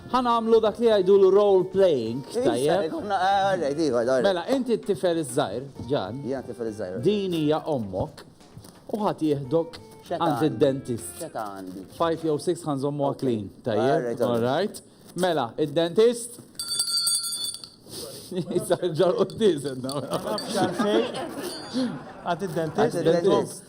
Ħa nagħmlu dak li jgħidulu role playing, tajjeb? Mela, inti t-tifel iż-żgħir, Ġan. Jiena t-tifel iż-żgħir. Din hija ommok u ħadd jieħdok għand id-dentist. Xeta għandi. 5 jew 6 ħanżommu clean, tajjeb? All right. Mela, id-dentist. Jisar ġar u t-tizen. Għad id-dentist.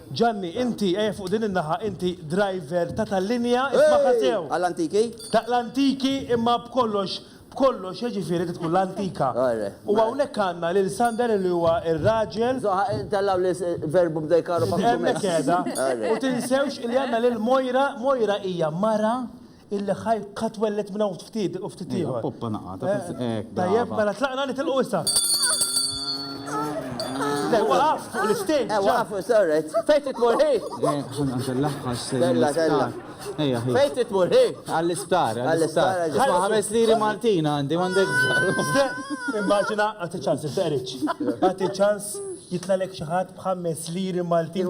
Ġanni, inti, ejja fuq din in-naħa, inti driver ta' tal-linja, ismagħha sew! Għal antiki? Ta' l-antiki imma b'kollox, b'kollox, jiġifieri trid tkun l-antika. U hawnhekk għandna lil Sander li huwa r-raġel. Tellgħu li verbu bda jkarru b'akkużizzjoni. Hemmhekk qiegħda. U tinsewx li għandna lil Moira, Moira hija mara Il-ħaj ka twelled minn hawn ftit u ftit ieħor. Poppa naqata. Tajjeb, mela tlaqna nitilqu issa. Le, waqaf fuq l-istage. Eh, waqaf, sorry. Fejn titmur ħi? Tella, tella. Fejn titmur ħi? Għall-isptar, għall-isptar. Għal ħames liri Maltin għandi, għandek. Immaġina, għati ċans, iftaqriċ. Għati ċans jitlalek xaħat bħames liri Maltin.